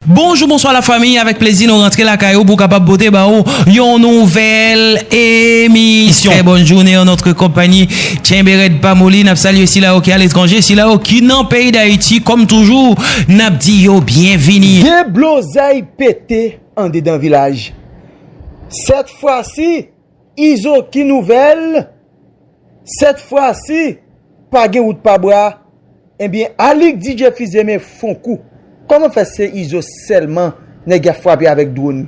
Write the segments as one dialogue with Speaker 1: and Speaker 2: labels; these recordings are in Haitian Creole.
Speaker 1: Bonjou bonswa la fanmi avèk plezi nou rantre lakay ou pou kapab pote ba ou yon nouvèl emisyon trè bòn joune an notre konpagni tchenbe rèd pa moli nap salye sila yo ki aletranje sila yo ki nan peyi dayiti kòm toujou nap di yo byenvini. Deblozay
Speaker 2: pete andedan vilaj sèt fwa si. Izo ki nouvèl, sèt fwa si pa gen wout pa bwa, ebyen Alix DJ Fizeme fon kou, kòman fè se Izo sèlman nèg yap frape avèk dwon,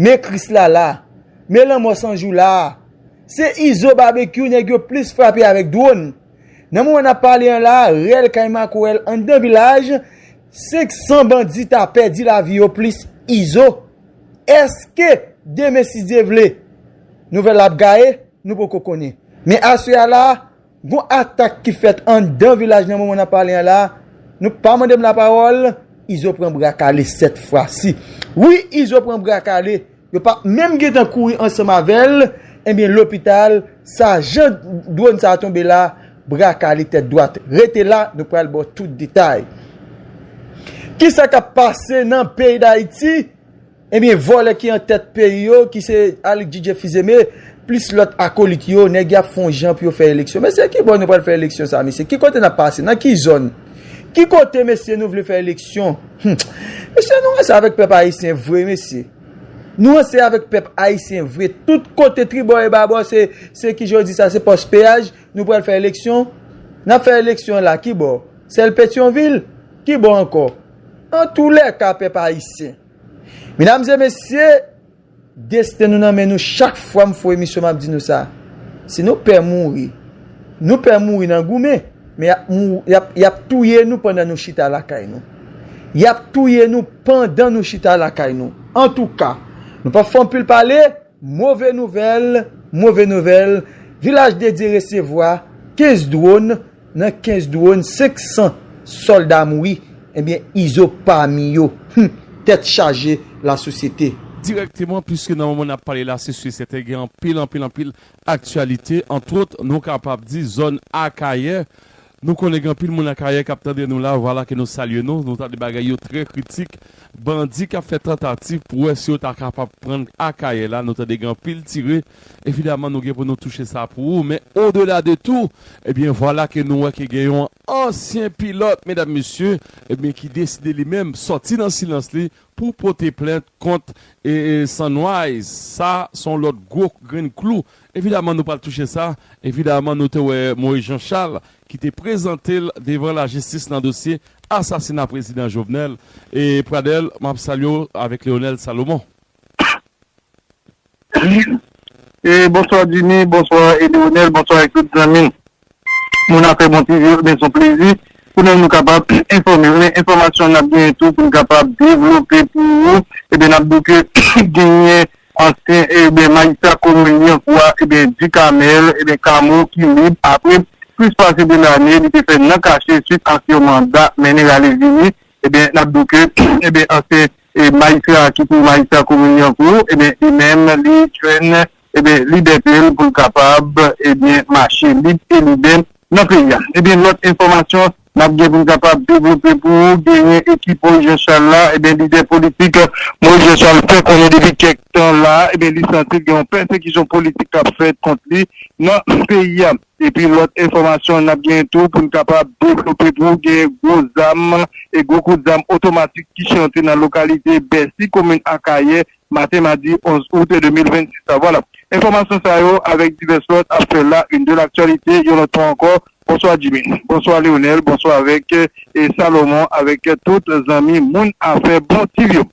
Speaker 2: men Krisla la, men lanmò san jou la, se Izo Babekyou nèg yo plis frape avèk dwon, nan moman nap pale an la, rèl kay Makorèl anndan vilaj, 500 bandi ta pèdi lavi yo plis Izo. Eske demen si Dye vle nouvèl la ap gaye, nou poko konnen. Men aswè a la, gon atak ki fèt anndan vilaj nan moman n ap pale an la, nou pa mande m lapawòl, Izo pran bra kale sèt fwa si. Wi Izo pran bra kale, yo pa menm gentan kouri ansanm avè l, enben lopital sa jan dwòn sa a tonbe la, Bra kale tèt dwat. Rete la, nou pral ba w tout detay. Kisa k ap pase nan peyi Dayiti? Ebyen, vòlè ki an tèt peyi yo, ki se Aly Didier Fils-Aimé, plis lòt akolit yo, nèg y ap fè yon jan pou yo fè eleksyon. Mesye, ki bò nou pral fè eleksyon sa a, mesye? Ki kote n ap pase? Nan ki zòn? Ki kote, mesye, nou vle fè eleksyon? Hum! Mesye, nou ranse avèk pèp ayisyen vre, mesye. Nou ranse avèk pèp ayisyen vre. Tout kote, tribò e babò, se, se ki jan yo di sa, se pòs peyaj. Nou pral fè eleksyon? Nap fè eleksyon la kibò? Sèl Petyonvil? Kibò ankò? Antoulèka pèp ayisyen. Medam e mesye, desten nou nan men nou chak fwa m fon emisyon map di nou sa. Si nou pè mouri, nou pè mouri nan goumen, men yap mouri, yap touye nou pandan nou chita lakay nou. Yap touye nou pandan nou chita lakay nou. Antouka, nou pap fè anpil pale. Move nouvèl, move nouvèl, Vilaj Dedye resevwa 15 dwòn, nan 15 dwòn 500 sòlda mouri, ebyen Izo pami yo, humm tèt chaje la sosyete. Dirèkteman, puiske
Speaker 3: nan moman n ap pale la se si e sèten gen anpil anpil anpil aktyalite, antwòt nou kapab di zòn Akayè Nou konnen gen anpil moun akayè kap tande nou la vwala ke nou salye nou, nou tande bagay yo trè kritik, bandi kap fè tantativ pou wè si yo ta kapab prann akayè la, nou tande gen anpil tire, evidaman nou gen pou nou touche sa pou ou, men odela de tou, ebyen vwala ke nou wè ke gen yon ansyen pilòt medam mesye, ebyen ki deside li menm sòti nan silans li pou pote plent kont Sunrise, sa son lòt gwo grenn klou Evidaman nou pral touche sa, evidaman nou te wè Moïse Jean Charles ki te prezante l devan lajistis nan dosye asasina prezidan Jovenel e Pradel m ap salye w avèk Leonel Salomon.
Speaker 4: Bonswa Jimmy, bonswa Edionel, bonswa ak tout zanmi. Moun afè bon ti vye ebyen son plezi pou nou nou kapab enfòmew men enfòmasyon nap genyen tou poun kapab devlope pou ou ebyen nap diw ke genyen ansyen ebyen majistra komin lyankou a ebyen Ducamel ebyen Camo ki lib apre plis pase 2 lane li te fè nan kache swit ak yon manda mennen rale vini ebyen nap diw ke ebyen ansyen majistra ki pou majistra komin lyankou ebyen li menm li jwenn. ebyen libète l pou l kapab ebyen mache lib e libè nan peyi a ebyen lòt enfòmasyon nap gen pou n kapab devlope pou ou genyen ekip Moyiz Janchal la ebyen lidè politik Moyiz Janchal fè konnen depi kèk tan la ebyen li santi l gen yon pèsekisyon politik kap fèt kont li nan peyi a epi lòt enfòmasyon nap genyen tou pou n kapab devlope pou ou genyen gwo zam e gwo kout zam otomatik ki chante nan lokalite Bèsi komin Akayè maten madi 11 out 2026 la. Vwala, enfòmasyon sa yo avèk divès lòt ap fè la une de l'actualité yon lòt fwa ankò. Bonswa Djimy, bonswa Leonel, bonswa avèk e Salomon avèk tout zanmi moun afè bon TV yo.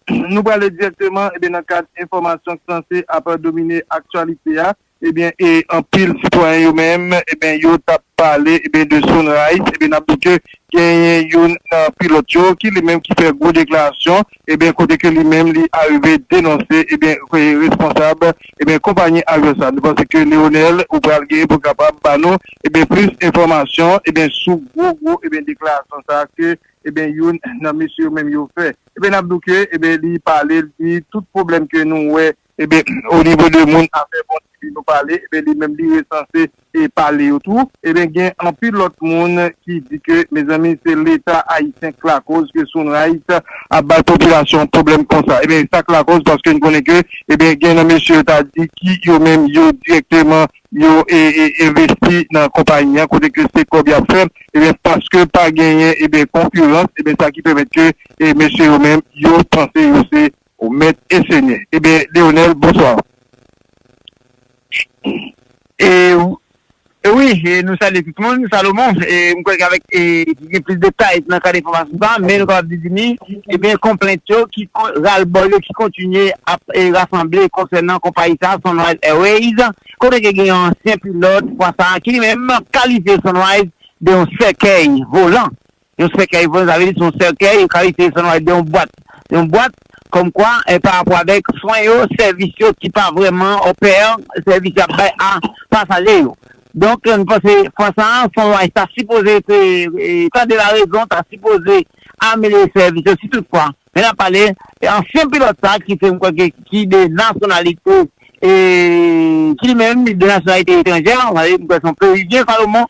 Speaker 4: Nou prale dirèkteman nan kad enfòmasyon k sanse ap domine aktyalite a Ebyen e anpil sitwayen yo menm ebyen yo tap pale ebyen de Sunrise ebyen nap di ke genyen youn nan pilòt yo ki li menm ki fè gwo deklarasyon ebyen kote ke li menm li arive denonse ebyen responsab ebyen konpayi avion sa nou panse ke Leonel ou pral genyen pou kapab ba nou ebyen plis enfòmasyon ebyen sou gwo gwo ebyen deklarasyon sa ke ebyen youn nan mesye yo menm yo fè ebyen nap di w ke ebyen li pale li di tout pwoblèm ke nou wè Ebyen o nivo de moun afè bon ti li nou pale ebyen li menm li resanse e pale yo tou ebyen gen anpil lòt moun ki di ke mezanmi se leta ayisyen k lakoz ke Sunrise ap bay popilasyon pwoblèm konsa ebyen e sak lakoz paske n konnen ke ebyen gen nan mesye yo ta di ki yo menm yo dirèkteman yo e envesti nan konpayi an kote ke se kòb y ap fè ebyen paske pa genyen ebyen konkirans ebyen sa ki pèmèt ke e mesye yo menm yo panse yo se Ou met e senye e ben leonel bonsoir.
Speaker 5: E wi e nou salye tout moun Salomon e m kwè avèk e ki gen plis detay nan kad enfòmasyon sa men nou kapab di ni e ben konplent yo ki ralbòl yo ki kontinye ap e rasanble konsènan konpayi sa Sunrise Airways kote ke gen yon ansyen pilòt fwa sa ki li menm kalifye Sunrise de yon sèkèy volan Yon sèkèy pou nou, sa vle di se yon sèkèy, yon kalite san wale de yon bwat, yon bwat, kòm kwa, en pa rapò avèk, swen yo, sèvis yo ki pa vrèman opère, sèvis y ap bay a pasaje yo. Donk, nou panse fwa sa a, Fon Wise ta sipoze te tande larezon, ta sipoze amelyore sèvis yo, si tout fwa, men n ap pale, ansyen pilòt sa a ki se m kwè ke ki de nasyonalite, ki li menm de nasyonalite etranjè, sa vle di m kwè se yon Peruvyen, Salomon,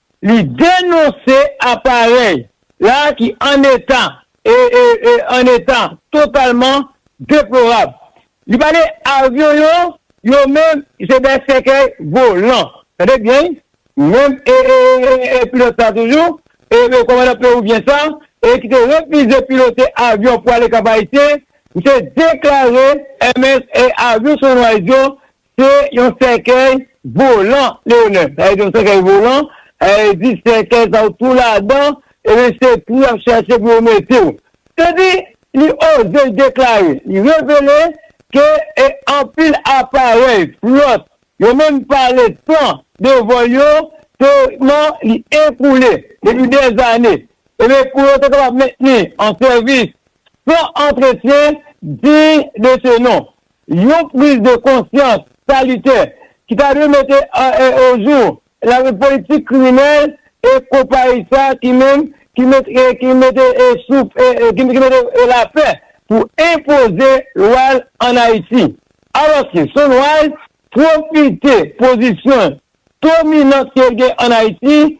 Speaker 6: Li denonse aparèy la ki an eta e an eta totalman deplorab. Li pale avyon yo, yo menm se dè sèkèy volan. Tande byen wi, menm pilòt sa toujou, kòmandan pewouvyen sa ki te refize pilote avyon pou ale Kap Ayisyen, misye deklare avyon Sunrise yo Se yon sèkèy volan Leonel. Sa vle di yon sèkèy volan, sa vle di sèkèy sa ou tou ladan ebyen se twou y ap chache pou yo mete w. Se di li oze deklare, li revele ke e anpil aparèy, flòt, yo menm pale san devan yo teorikman li ekoule depi dèzane ebyen pou yo te kapab mentni an sèvis san antretyen diy de se non. Yon priz de konsyans salitè ki ta dwe mete ojou lari politik kriminèl e konpayi sa ki menm ki mete souf ki mete lapè pou enpoze lwa l ann Ayiti. Alòske Sunrise pwofite pozisyon l dominant ke l gen ann Ayiti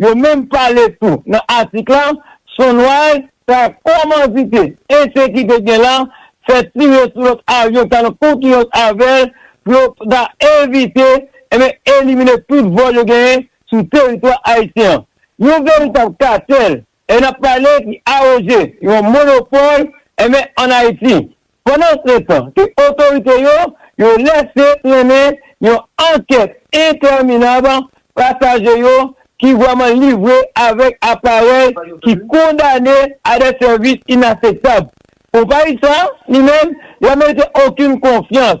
Speaker 6: Yo menm pale tou nan atik la sou nway sa komandite Endyen ki te gen la fè tire sou lòt avyon ta nan konkirans avè l pou yo ta evite enben elimine tout vòl yo genyen sou teritwa ayisyen an. Yon veritab katèl E nap pale ki aroge yon monopol enben an Ayiti pandan se tan ke otorite yo yo lese trennen yon ankèt entèminab pasaje yo ki vreman livre avek aparèy ki kondane a de sèvis inaseptab. Konpayi sa li menm li pa merite okin konfyans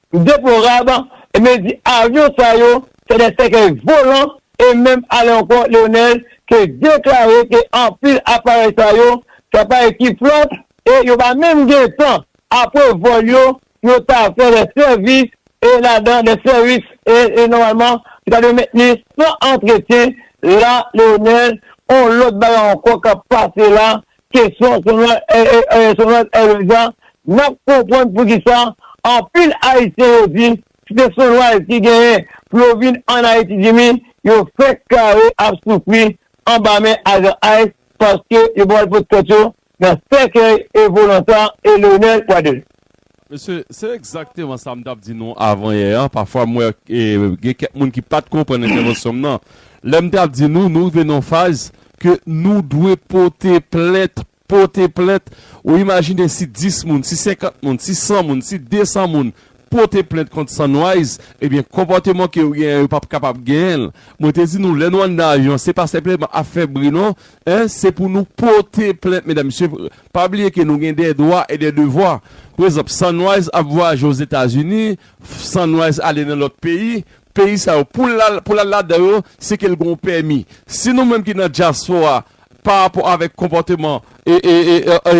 Speaker 6: M deplorab, e men di avyon sa yo se de sèkèy volan, e menm ale ankò Leonel te deklare ke anpil aparèy sa yo se aparèy ki flòt e yo pa menm gen tan apre vòl yo pou yo ta fè de sèvis e ladan de sèvis e nòmalman ki ta dwe mentni san antretyen la Leonel on lòt bagay ankò kap pase la Kesyon Sonrad Ereza, N ap konprann poukisa anpil Ayisyen yo di si se Sonrad ki genyen pou yo vin ann Ayiti Jimmy, yo fenk kare ap soufri anba men ajan ice paske yo pral pot tèt yo nan sèkèy e volan sa e Leonel Pradel. Mesye, se
Speaker 3: egzakteman sa m t ap di nou avanyè a. Pafwa m wè gen kèk moun ki pa t konprann entèvansyon m nan. Lè m t ap di nou, nou rive nan yon faz ke nou dwe pote plent, pote plent. Ou imajine si 10 moun, si 50 moun, si 100 moun, si 200 moun pote plent kont Sunrise, ebyen konpòteman ke yo genyen an yo p ap kapab genyen l. Mwen te di nou, lè nou anndan avyon an, se pa senpleman ap fè bri non. Se pou nou pote plent, medam mesye. Pa bliye ke nou gen dè dwa e dè devwa. Pa egzanp, Sunrise ap vwayaje Ozetazini, Sunrise ale nan lòt peyi, peyi sa yo pou l al ladan yo se ke l gen yon pèmi. Si nou menm ki nan dyaspora pa rapò avèk konpòteman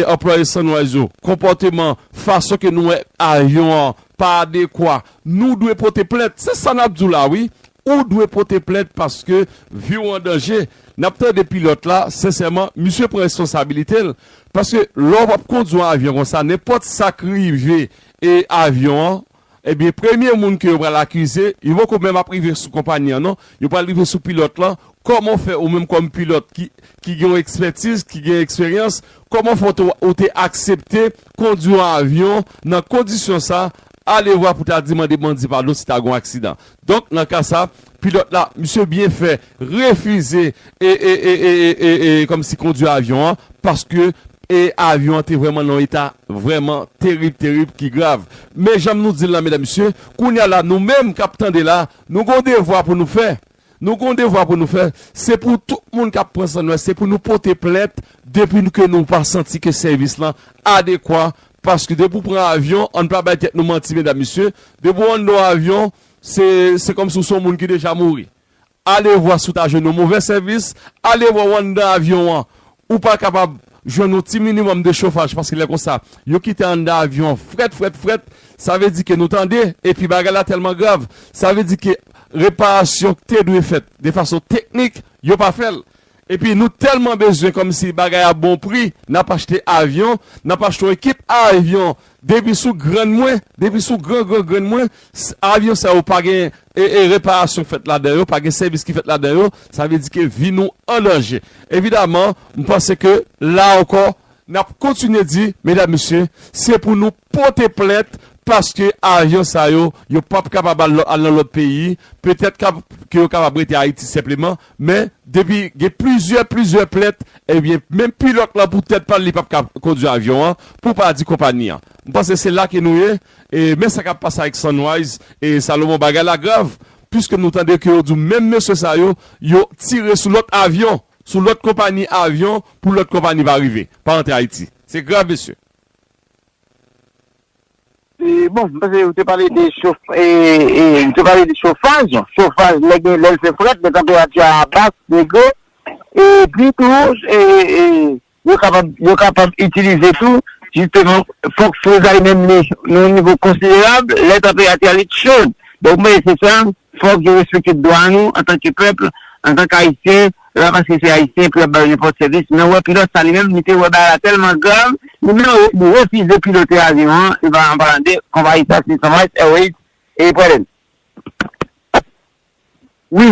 Speaker 3: anplwaye Sunrise yo, konpòteman, fason ke nou wè avyon an pa adekwa, nou dwe pote plent. Se sa n ap di w la wi. Ou dwe pote plent paske vi w an danje. N ap tande pilòt la, sensèman, misye pran responsabilite l. Paske lò w ap kondi yon avyon konsa, nenpòt sa k rive e avyon an, ebyen premye moun ke yo pral akize, yo poko menm ap rive sou konpanyi an non, yo pral rive sou pilòt lan, kòman w fè ou menm kòm pilòt ki ki gen yon ekspètiz, ki gen eksperyans, kòman w fè w te ou te aksepte kondi yon avyon nan kondisyon sa, alevwa pou ta di mande bandi padon si ta gen yon aksidan. Donk nan ka sa, pilòt la, misye byen fè refize e e e e e e kòmsi kondwi avyon an paske e avyon an te vrèman nan yon eta vrèman terib terib ki grav. Men janm nou di l la medam mesye, kounye a la nou menm k ap tande la, nou gen yon devwa pou nou fè, nou gen yon devwa pou nou fè, se pou tout moun k ap pran san nou a, se pou nou pote plent depi ke nou pa santi ke sèvis lan adekwa Paske depi ou pran avyon, ann pa bay tèt nou manti medam mesye, depi ou anndan yon avyon, se se kòmsi ou se yon moun ki deja mouri. Alevwa si ou ta jwenn yon movè sèvis, alevwa ou anndan avyon an, ou pa kapab jwenn yon ti minimòm de chofaj paske lè konsa, yo kite anndan avyon an frèt frèt frèt, sa vle di ke nou tande, epi bagay la tèlman grav, sa vle di ke reparasyon ki te dwe fèt de fason teknik, yo pa fè l. Epi nou tèlman bezwen kòmsi bagay a bon pri nap achte avyon, nap achte yon ekip avyon depi sou grann mwen, depi sou gran gran grann mwen avyon sa yo pa gen reparasyon k fèt ladan yo, pa gen sèvis ki fèt ladan yo, sa vle di ke vi nou an danje. Evidaman, m panse ke la ankò nap kontinye di medam mesye se pou nou pote plent paske avyon sa yo, yo pap kapab al nan lòt peyi, petèt ke yo kapab rete Ayiti senpleman, men depi gen plizyè, plizyè plent, ebyen menm pilòt lan pou tèt pa l li pap ka kondwi avyon an, pou pa di konpani an. M panse se la ke nou ye, e men sa k ap pase avèk Sunrise e Salomon bagay la grav, piske nou tande ke yo di w menm mesye sa yo, yo tire sou lòt avyon, sou lòt konpani avyon pou lòt konpani pa rive, pa antre Ayiti. Se grav mesye.
Speaker 5: Bon, m panse ou te pale de chof, ou te pale de chofaj, chofaj lè gen, lè l fè frèt, lè tanperati a ba, degre, e pi tou, yo kapab, yo kapab itilize tou, jisteman, fòk frizay menm li, nan yon nivo konsiderab, lè tanperati a li t cho. Donk, mwen se sa, fòk yo respekte dwa nou, antanke pèp, antanke Ayisyen. Se pa paske se Ayisyen pou y ap ba yo nenpòt sèvis, men wè pilòt sa li menm li te wè bagay la tèlman grav, li menm li refize pilote avyon an, se pa an palan de konpayi sa se Sunrise Airways e pou Air France.
Speaker 4: Wi,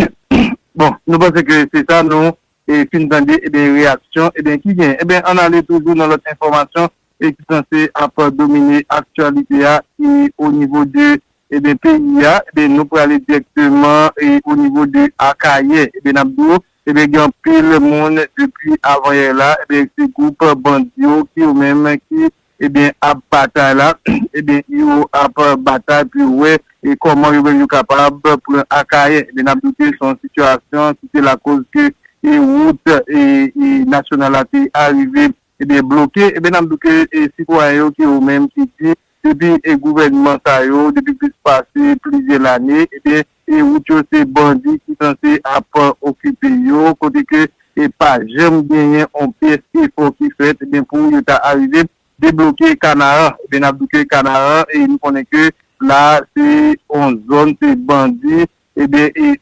Speaker 4: bon, nou panse ke se sa nou fin tande, ebyen reyaksyon, ebyen ki gen, ebyen ann ale toujou nan lòt enfòmasyon e ki sanse ap domine aktyalite a e o nivo de eben peyi a eben nou prale direkteman e o nivo de Akayè eben nap di w eben gen anpil moun depi avanyè la eben se gwoup bandi yo ki yo menm ki eben ap batay la eben yo ap batay pou yo wè e kòman yo menm yo kapab pran Akayè eben nap di w ke se yon sitiyasyon ki te lakoz ke e wout e nasyonal la te arive Ebyen bloke ebyen nap di ke e sitwayen yo ki yo menm ki di depi e gouvènman sa yo depi plis pase plizyè lane ebyen e wout yo se bandi ki sanse ap okipe yo kote ke e pa janm genyen on pyès efò ki fèt ebyen pou yo ta arive debloke kanaran ebyen nap di ke kanaran e nou konnen ke la se on zòn se bandi Ebyen e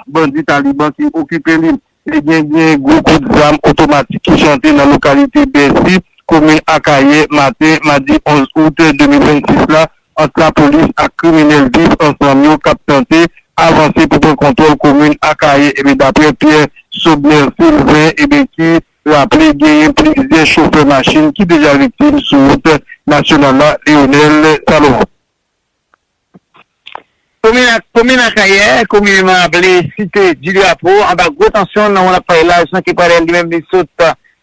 Speaker 4: bandi Taliban ki okipe li. Ebyen gen gwo kout zam otomatik ki chante nan lokalite Bèsi, komin Akayè, maten madi 11 out 2026 la ant lapolis ak kriminèl viv ansanm yo k ap tante avanse pou pran kontwòl komin Akayè. Ebyen daprè Pierre Sobner Sylvain ebyen ki raple genyen plizyè chofè machin ki deja viktim sou wout nasyonal la Leonel Salomon.
Speaker 5: Komin Akayè, komineman aple Site di Drapo, anba gwo tansyon nan wonn ap pale laj nan Kepare li menm li sot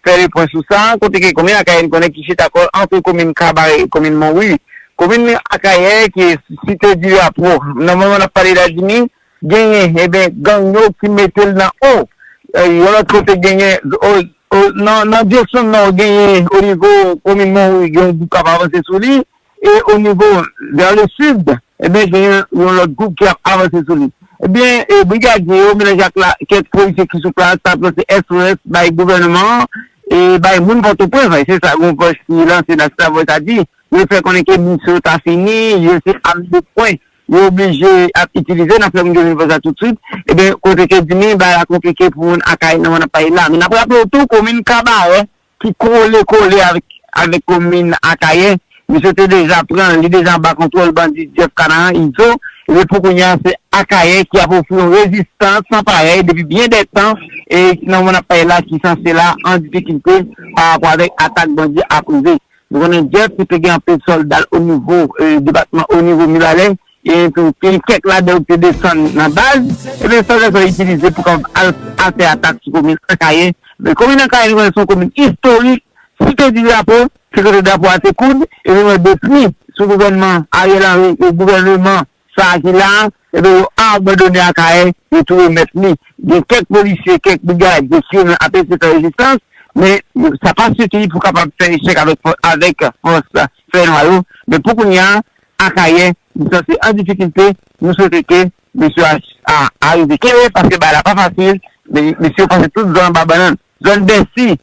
Speaker 5: fè le pwen sou sa, kote ke komin Akayè n konnen ki chita kò l antre komin Kabare e komin Monwi. Komin Akayè ki Site di Drapo, nan moman n ap pale la Jimmy, genyen eben gang yo ki mete l nan o. Yon lòt kote genyen nan direksyon nò genyen onivo komin Monwi gen yon gwoup k ap avanse sou li. E o nivo vers le sud, ebyen gen yon lòt gwoup ki ap avanse sou li. Ebyen brigadye yo melanje ak la kèk polisye ki sou plas ap lanse SOS bay gouvèneman an e bay moun Pòtoprens lan. E se sa yon vòs ki lanse nan Star Voice la di. Yo fè konnen ke minisyon yo ta fini, yo se ame de pwen yo oblije ap itilize. N ap fè moun yo jwenn vòs la tout swit. Ebyen kote ke di mi bagay la konplike pou moun Akayè nan mòn ap pale la. Men n ap raple w tou komin Kabarè ki kole kole avèk komin Akayè, misye te deja pran, li deja anba kontwòl bandi Jeff Canaran, Izo, epi pou kounye a se Akayè ki ap ofri yon rezistans san parèy depi byen dè tan, e ki nan moman n ap pale la ki sanse la an difikilte parapò avèk atak bandi ap rive. Nou konnen Jeff ou te gen anpil solda l onivo depatman onivo mibalè e tou gen kèk ladan yo ki te desann nan baz e ben solda sa yo itilize pou kapab al al fè atak sou komin Akayè men komin Akayè nou konnen se yon komin istorik site di drapo se kote drapo a te koud e nou wè depi sou gouvènman Ariel Henry e gouvèneman sa a ki la a, enben yo abandone Akayè, yo tou remèt li. Gen kèk polisye, kèk brigad, gen ki menm ap eseye fè rezistans, men sa pa sifi pou kapab fè echèk avèk fòs fènwa yo. Men pou kounya a, Akayè li sanse an difikilte, nou swete ke mesye a arive kenbe, paske bagay la pa fasil, men mesye yo pase tout zòn anba bannann. Zòn Bèsi,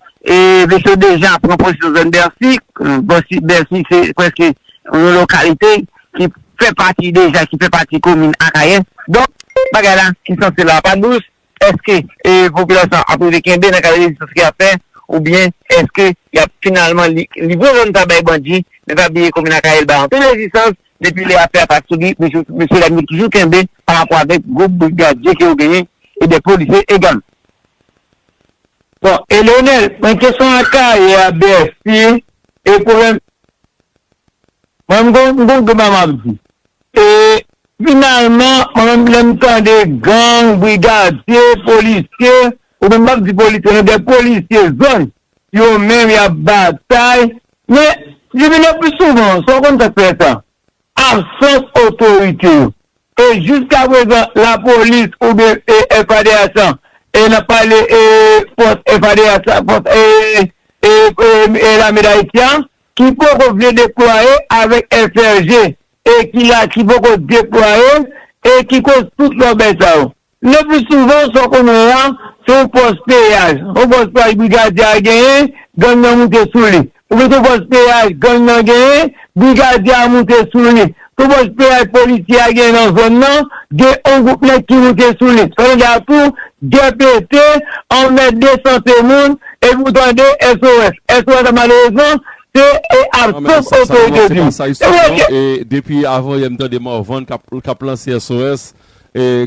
Speaker 5: Vechon deja pran pozisyon zòn Bèsi. Bèsi se prèske yon lokalite ki fè pati deja, ki fè pati komin Akayè. Donk, bagay la ki sanse la a pa dous. Èske popilasyon an ap rive kenbe nan kad rezistans ke y ap fè? Oubyen èske y ap finalman livre zòn sa a bay bandi? Men pa bliye komin Akayè li bay anpil rezistans. Depi lè afè a pa souri, mesye dam yo toujou kenbe parapò avèk gwoup brigadye ke yo genyen e dè polisye egalman.
Speaker 6: Bon e Leonel mwen kesyon akayè a bèsi e pwoblèm mwen m gon m gon bagay map di e finalman mwen menm lèm tande gang brigadye polisye ou menm pap di polisye non de polisye zòn yo menm yap batay men divino pi souvan sa ou konn sak fè sa. Absans otorite yo. E jiskaprezan lapolis oubyen FADH lan, e nap pale fòs FADH la, fòs lame dayiti an, ki poko vle deplwaye avèk FRG e ki la ki poko deplwaye e ki koz tout lòbèy sa yo. Lepli souvan, sa w konnen an, se yon pòs peyaj. Yon pòs peyaj brigadye a genyen, gang nan moute sou li. Oubyen se yon pòs peyaj gang nan genyen, brigadye a moute sou li. Se yon pòs peyaj polisye a genyen nan zòn nan, gen yon gwoup nèg ki moute sou li. Sa vle di a tou, gè pete, anmède sante moun, epi ou tande SOS. SOS la malerezman, se e a sof otorite di.
Speaker 3: Depi avan yè m tande Morvan k ap lanse SOS,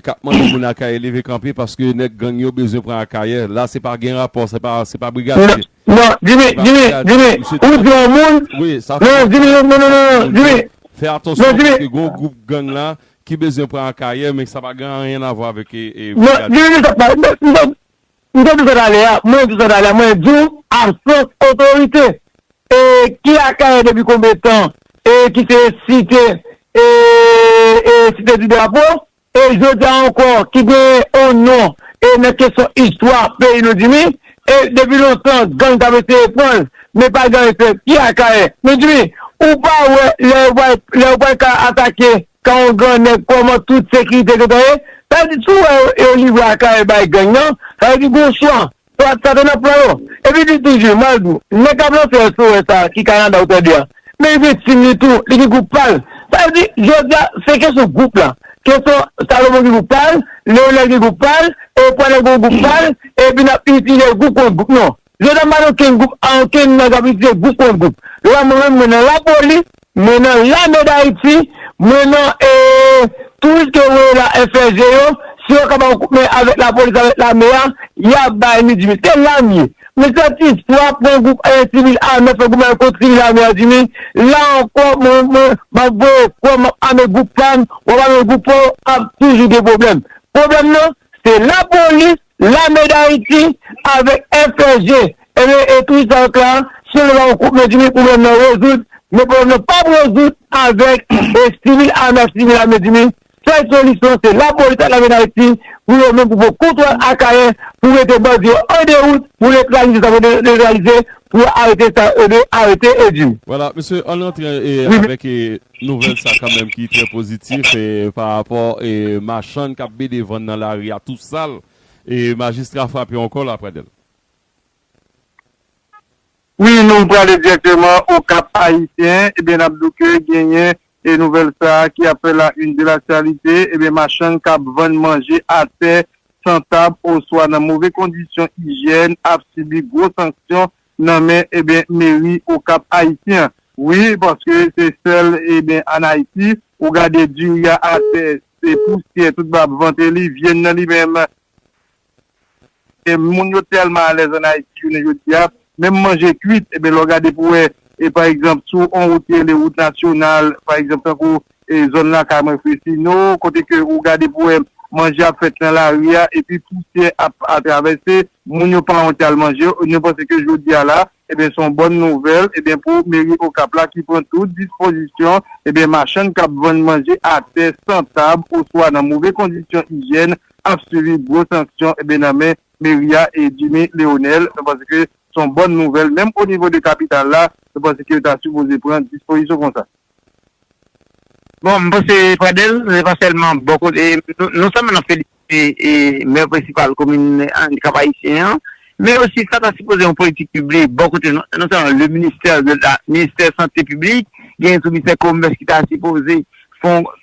Speaker 3: kap mande moun akayè leve kanpe paske nèg gang yo bezwen pran akayè la se pa gen rapò se pa se pa brigade nan jimmy
Speaker 6: jimmy jimmy ou di yon moun nan jimmy
Speaker 3: nan nan nan
Speaker 6: jimmy fè atansyon
Speaker 3: paske gon group gang la ki bezwen pran akayè men sa pa gen anyen avwa avèk nan jimmy
Speaker 6: nan jimmy nan M te di w sa talè a, mwen di w sa talè a, mwen di w absans otorite e ki Akayè depi konbe tan e ki se site e e site di drapo e jodi a ankò ki gen on non e nan kesyon istwa peyi nou di mi e depi lontan gang t ap eseye pran l men pa gen efè ki Akayè men di mi ou pa wè lè yo pral lè yo pral ka atake Kan yon gran nèg kòman tout sekirite gentan ye, sa vle di si w wè yo livre akayè bay gang nan, sa vle di gon chwa, swat sa te nan plan yo. Epi di toujou, m al di w, nèg k ap lanse SOS sa ki Kanada ou tande a, men li gen team li tou, li gen gwoup pa l. Sa vle di jodi a se kesyon gwoup la, kesyon Salomon gen gwoup pa l, Leonel gen gwoup pa l, Euphorie gen yon gwoup pa l, epi n ap itilize gwoup kont gwoup. Non, Vye dam pa nan okenn gwoup a okenn nèg ap itilize gwoup kont gwoup yo pa mwen menm mwen nan lapoli mwen nan lame dayiti mwen nan touris ke voye la FLG yo si yo ka ba ou kout men avèk lapolis avèk lame a ya bay nou dimi se la m ye mwen santi fwa pran gwoup sivil ame fè goumen kont sivil ame a dimi la ankò mwen mwen map voye kòm map ame gwoup pam wap ame gwoup paw ap toujou gen pwoblèm pwoblèm nan se lapolis Lame Dayiti avèk FLG ebe e tout sa yo ka si yo te ba yon kout men dimi pwoblèm nan rezoud men pwoblèm nan pap rezoud avèk e sivil ame ak sivil ame dimi sèl solisyon se lapolis ak lame Dayiti pou yo menm pou pran kontwòl Akayè pou mete bandi yo an dewout pou netralize sa yo vle netralize pou yo arete sa yo vle arete e di. Vwala mesye ann
Speaker 3: rantre avèk e. Nouvèl sa kanmenm ki trè pozitif pa rapò machann kap BD vann nan lari a tou sal e majistra frape ankò la Pradel.
Speaker 4: Wi nou prale direkteman au Cap Haïtien ebyen nap di w ke genyen nouvèl sa ki ap fè la une de l'actualité ebyen machann kap vann manje atè san tab oswa nan move kondisyon ijyèn ap sibi gwo sanksyon nan men ebyen meri okap ayisyen an wi paske se sèl ebyen an ayiti ou gade diri a atè se pousyè tout ba vante li vyann nan li menm ebyen moun yo tèlman alèz an ayiti jounen jodia menm manje kwit ebyen lè w gade pou wè e pa egzanp sou on wout ki rele wout nasyonal pa egzanp tankou E zòn la kay mwen Fresino, kote ke ou gade pou wè manje ap fèt nan lari a, epi pousyè ap atravèse, moun yo pa wonte al manje, nou panse ke jodi a la, ebyen se yon bòn nouvèl, ebyen pou meri Okap la ki pran tout dispozisyon, ebyen machann kap vann manje atè, san tab, oswa nan move kondisyon ijyèn, ap sibi gwo sanksyon, ebyen nan men meri a e Jimmy Leonel, nou panse ke se yon bòn nouvèl, menm onivo de kapital la, nou panse ke yo ta sipoze pran dispozisyon konsa.
Speaker 5: Bon, m panse Pradel, se pa sèlman bò kote, non sèlman n ap felisite Mè prensipal komin Andikap Ayisyen an, men osi sa ta sipoze yon politik piblik bò kote non sèlman le ministè de la, ministè sante piblik, genyen tou ministè komès ki ta sipoze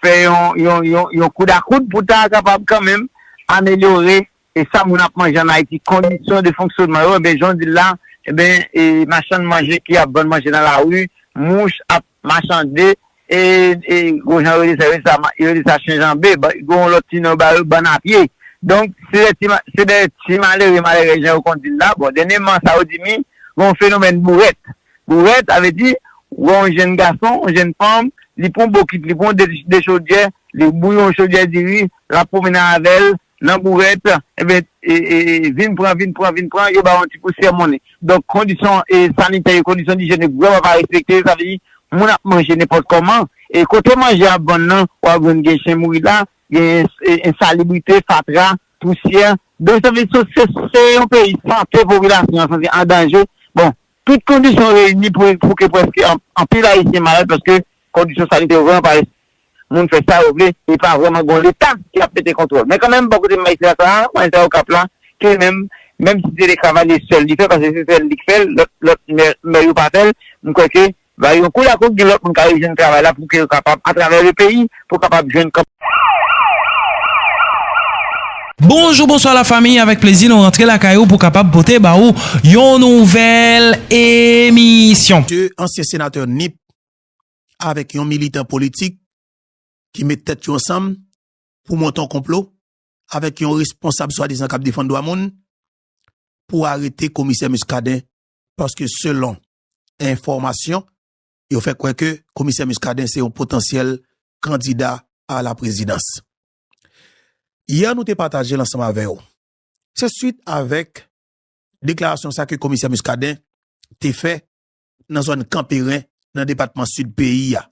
Speaker 5: fè yon koudakout pou ta kapab kanmenm amelyore E sa moun ap manje an Ayiti, kondisyon de fonksyonman yo, enben jan w di l la, enben e machann manje ki ap vann manje nan lari, mouch ap machande, e e gon jan yo rele sa, yo rele sa ma, yo rele sa chen janbe, ba gon yon lòt ti non yo ba yo, bann a pye. Donk, se dè ti ma, se dè ti malere, malèrèz jan yo konn di l la, bon dènyèman sa yo di mi, gen yon fenomèn bourèt. Bourèt, sa vle di, wè yon jenn gason, yon jenn fanm, li pran yon bokit, li pran yon de, de chodyè, li bouyon yon chodyè diri, Lap pwomennen avèl nan bourèt ebyen vin pran vin pran vin pran yo baw yon ti pousyè monnen donk kondisyon sanitè yo kondisyon dijyèn yo vrèman pa respekte sa vle di moun ap manje nenpòt kòman e kote manje ap vann nan wap jwenn gen chen mouri la gen ensalibrite fatra pousyè donk sa vle di se yon peyi sante popilasyon an santi an danje bon Tout kondisyon reyini pou ke prèske anpil Ayisyen malad paske kondisyon sanitè yo vrèman pa lèse moun fè sa yo vle e pa vrèman gen yon Leta ki ap mete kontwòl. Men kanmenm bò kote majistra sa a, majistra Okap la, ki li menm, menm si se de Cavalier sèl li fè paske se sèl li k fè l, lòt mè yo pa fè l, m kwè ke Ba yo kou la kou gin lot moun ka rejwenn travay la pou ke yo kapab a travè le peyi pou kapab jwenn kap.
Speaker 1: Bonjou bonswa la famiy avèk plezi nou rantre lakay ou pou kapab pote ba ou yon nouvèl emisyon. 2 ansyen senatè
Speaker 7: nip avèk yon militan politik ki met tèt yo ansanm pou monte yon konplo avèk yon responsab swadizan k ap defann dwa moun pou arete komisè Muscadin paske selon. enfòmasyon, yo fè kwè ke komisè Muscadin se yon potansyèl kandida a la prezidans. Yè nou te pataje l ansanm avè w. Se swit avèk deklarasyon sa ke komisè Muscadin te fè nan zòn Kanperen nan depatman Sid peyi a,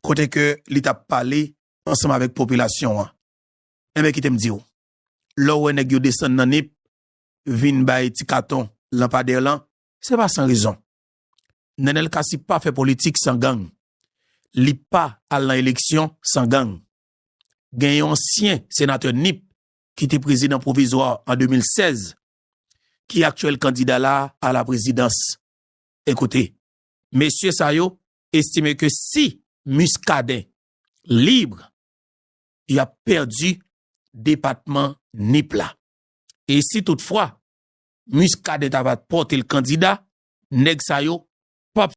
Speaker 7: kote ke li t ap pale ansanm avèk popilasyon an. Enben kite m di w, lè w wè nèg yo desann nan Nip, vin bay ti katon lanpadè lan, se pa san rezon. Nenel Cassy pa fè politik san gang. Li pa al nan eleksyon san gang. Gen yon ansyen senatè Nip ki te prezidan pwovizwa an 2016 ki aktyèl kandida la a la prezidans. Ekoute, mesye sa yo estime ke si Muscadin libre, y ap pèdi depatman Nip la. E si tout fwa Muscadin ta va pote l kandida, nèg sa yo pap